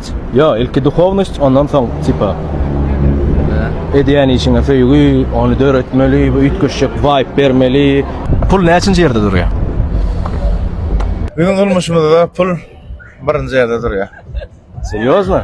duhovnost. Ýok ilki duhovnost ondan soň tipa edýän işiňe söýgi ony döretmeli bu üýtgeşjek waýp bermeli. Pul näçinji ýerde durýar? Biziň durmuşymyzda pul birinji ýerde durýar. Serýozno?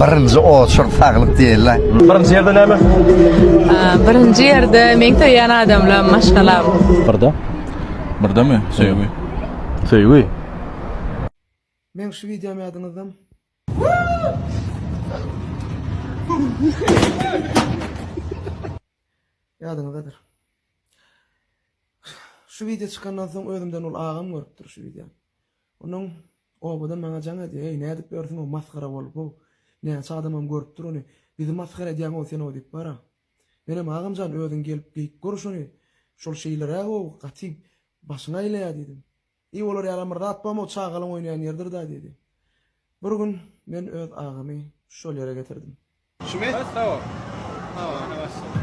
Birinji oçur saglyk diýle. Birinji ýerde näme? Birinji ýerde meň söýýän adamla maşgalam. Birde. Birde mi? Söýgi. Söýgi. Meň şu videom ýadyňyzdam. Ýadyňyzdadyr. Şu video çykandan soň özümden ol agam görüpdir şu video. Onuň obada maňa jaň edýär, eý, nädip ýörsiň-ow, masgara bolup-ow. Näçe adamam görüp dur ony. Bizi masgara edýäň-ow sen-ow diýip bar-a. Menem, Agam jan, özüň gelip geýip gör şony. Şol şeýleräg-ow, gaty başyňy aýlaýar diýdim. Eý, olar ýalam bir zat bam-ow, çagalaň oýnaýan ýeridir-dä diýdi. Bir gün men öz agamy şol ýere getirdim. Şmit, sag ol. Sag ol, ene başla.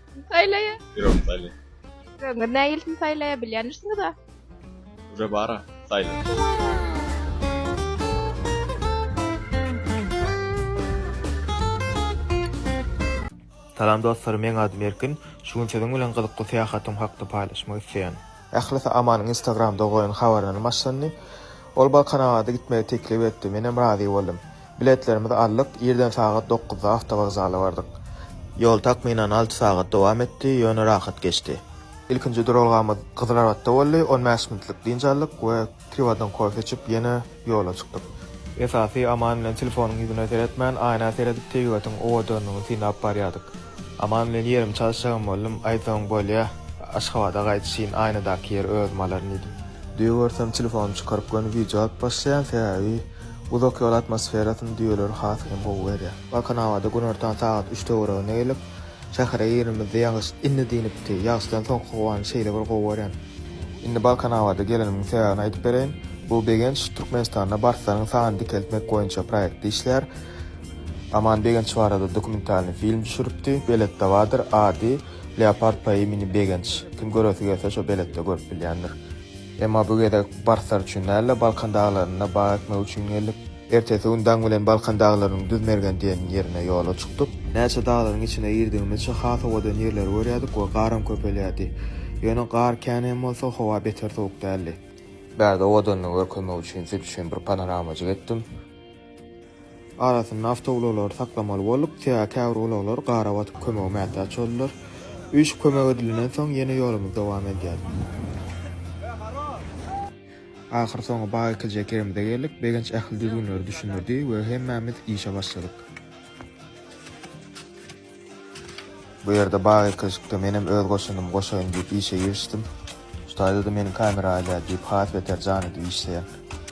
Saýlaýa. Ýürek saýlaýa. Ýüregiňiz nägilsin saýlaýa bilýändirsiňiz-a. Ýüre bara saýla. Salam dostlar meň adym Erkin şu gün siziň bilen gyzykly syýahatym hakda paýlaşmak isleýän. Ählisi Amanyň Instagramda goýan habaryndan başlandy. Ol Balkanabada gitmegi teklip etdi. Menem razy boldum. Biletlerimizi aldyk, irden sagat dokuzda awtowokzala bardyk. Ýol takmynan alty sagat dowam etdi, ýöne rahat geçdi. Ilkinji duralgamyz Gyzylarbatda boldy, on bäş minutlyk dynç aldyk we. Piwadan kofe içip, ýene ýola çykdyk. Esasy, Aman bilen telefonyň ýüzüne seretmän, aýna seredip, tebigatyň owadanlygyny synlap barýardyk. Aman bilen ýerimi çalyşjagam boldum, aýtsaň bolýa, Aşgabada gaýdyşyn aýnadaky ýeri özüm alaryn diýdim. Düýe görsem telefonymy çykaryp göni wideo alyp başlaýan, sebäbi uzak ýol atmosferasyny düýeler has hem gowy berýär. Balkanabada günortan sagat üç töwereginde gelip, şähere girenimizde ýagyş indi dinipdi, ýagyşdan soňky howany şeýle bir gowy görýän. Indi Balkanabada gelenimiň sebäbini aýdyp bereýin. Bu Begenç Türkmenistanda barslaryň sanyny dikeltmek boýunça proýektde işleýär. Aman Begenç barada dokumentalnyý film düşüripdi. Beletde bardyr. Ady, Leopard po imeni Begenç. Kim göresi gelse şo beletde görüp bilýändir. Emma bu gezek barslar üçin däl-de, Balkan daglarynda bag ekmek üçin geldik. Ertesi gün daň bilen Balkan daglarynyň Düzmergen diýen ýerine ýola çykdyk. Näçe daglaryň içine girdigimizçe has owadan ýerleri görýärdik we garam köpelýärdi. Ýöne gar kän hem bolsa, howa beter sowuk däldi. Bärde owadanlygy görkezmek üçin siz üçin bir panoramajyk etdim. Arasynda awtoulaglary saklamaly bolduk, sebäbi käbir ulaglar gara batyp kömege mätäç boldular. Üýşüp kömek edilenden soň ýene ýolumyzy dowam edýäris. Ahyrsoňy bag ekilje kerimize geldik. Begenç ähli düzgünleri düşündirdi we hemmämiz işe başladyk. Bu ýerde bag ekilişikde menem öz goşandymy goşaýyn diýip işe girişdim. Şu taýda-da meni kamera alýar diýip has beter jan edip işleýän.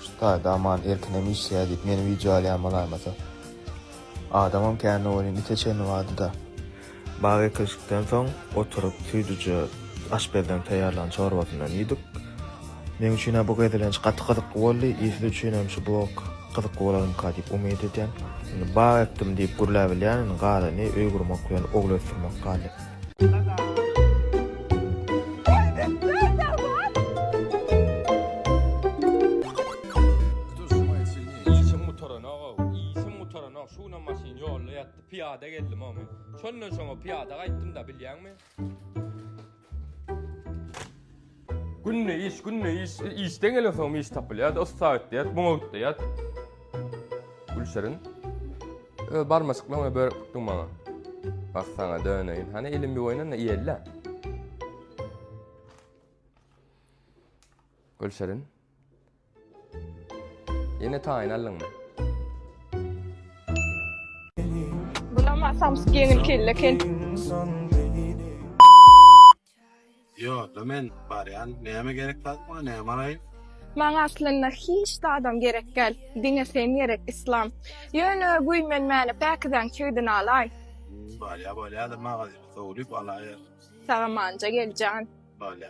Şu taýda Aman erkinem işleýär diýip meni wideo alýan bolaýmasa. Adamam kände welin ite çenli bardy-da. Bag ekilişikden soň oturyp süýdüje aşpezden taýýarlan çorbasyndan iýdik. Meň üçin-ä bu gezelenç gaty gyzykly boldy, siz üçinem şu blog gyzykly bolarmyka diýip umyt edýän. Indi bag ekdim diýip gürläp bilýän, indi galany öý gurmak bilen ogul ösdürmek galdy. Pyýada geldim-ow men. Şondan şoňa pyýada gaýtdym-da, bilýäňmi? Günde iş, günde iş. Işden gelen soňam iş tapylýar-da, ussa gitýär, muňa gitýär. Gülşirin. Öz barmaçyklaryňy börek tutduň maňa. Bak sana döneýin. Hany elim bir oýnan-da iýeli-le. Gülşirin. Ýene taýyn aldyňmy? Bulama samsyk ýeňil kelle kel. Ýo, da men barýan. Näme gerek zat maňa, näme alaýyn? Maňa aslynda hiç zadam gerek däl. Diňe sen gerek, Yslam. Ýöne guý men mäne päkizäň çigdini alaý. Bolýa, bolýa-da magazyny sowlup alaýar. Sagamanja gel jan. Bolýa.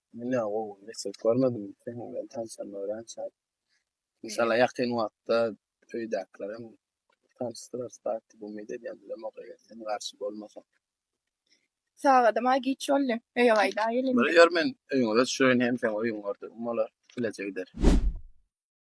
Menä gowy nesil görmedim seň bilen tanşan örençä. Inşallah ýakyn wagtda öýdäkilerem tanşdyrarys daýy diýip umyt edýän bilemok eger sen garşy bolmasaň. Sagadam-a giç boldy. Öýe gaýdaýyl indi. Ýör men öýüňe göçürin hem seň öýüňi gördügim bolar. Bileje gideris.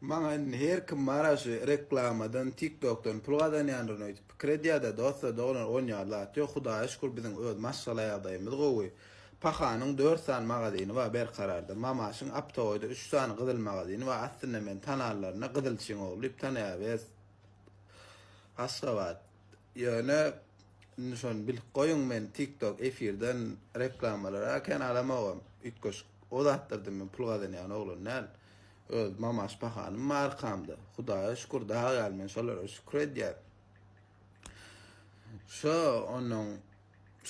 Maňa indi her kim bara şu reklamadan tiktokdan pul gazanýandyryn öýdüp pikir edýärda dosta doglan on ýar zat ýok hudaýa şükür biziň öz maşgala ýagdaýymyz gowy pahanyň dört sany magazyny bar berkararda mamaşyň aptogoýda üç sany gyzyl magazyny bar aslynda men tananlarynda gyzylçyň ogly diýip tanaýabys aşgabat Ýöne indi şony bilip goýuň men TikTok efirden reklamalara aken alamogam üýtgeşik o zatlardan men pul gazanýan oglan däl öz mama şpahanym bar arkamda hudaýa şükür dag ýaly men şolara şükür edýän şo onnoň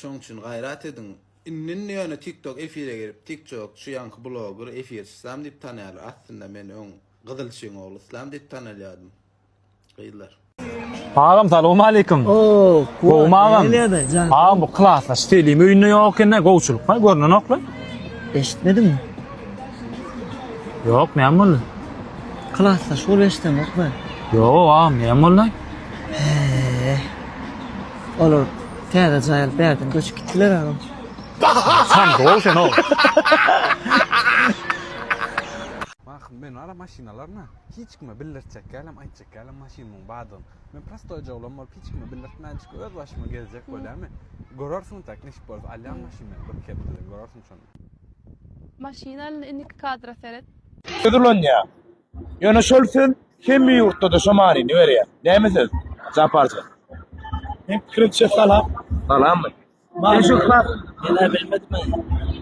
şoň üçin gaýrat ediň indi indi ýöne TikTok efire girip TikTok şu ýaňky bloger efirçisam diýip tanýarlar aslynda men öň gyzyl çyň ogly islam diýip tanalýadym Gyzlar. Agam salam aleyküm. Oo, Gowmy agam? Agam bu klasda stelim öýünde ýok ene gowçulyk ha görnen okla. Eşitmedin mi? Ýok, näme boldy? Klasda şol eşitdim okla. Ýok, agam, näme boldy? Eee. Olar täze jaýal bärden göçüp gitdiler agam. Sen gol sen ol. Bakın ben ara maşinalarına. Hiç kime bildirtjek dälem, aýtjak dälem maşyn muň badygyny. Men prostoýja oglan bolup hiç kime bildirtmänjik öz başyma gezjek bolýamy? Görersiň tä nesip bolsa alýan maşyn men bir kepdeden görersiň şonda. Maşyn alyn indiki kadra seret. Söz ulanýar. Ýöne şol söz hemme ýurtda-da şo manyny berýär. Näme söz? Japarja. Meň pikirimçe salam. Salammy?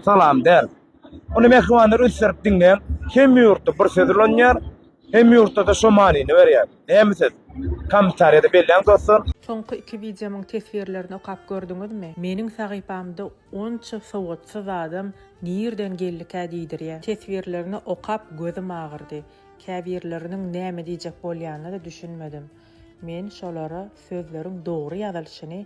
Salam däl. Ony mähribanlar ünslenip diňleýän hemme ýurtda bir söz ulanýar, hemme ýurtda-da şo manyny berýär. Näme söz? Kommentariýada belläň dostlar. Soňky iki wideomyň teswirlerini okap gördüňizmi? Meniň sahypamda onça sowatsyz adam nirden geldikä diýdirýä. Teswirlerini okap gözüm agyrdy. Käbirleriniň näme diýjek bolýanyna-da düşünmedim. Men şolara sözleriň dogry ýazylyşyny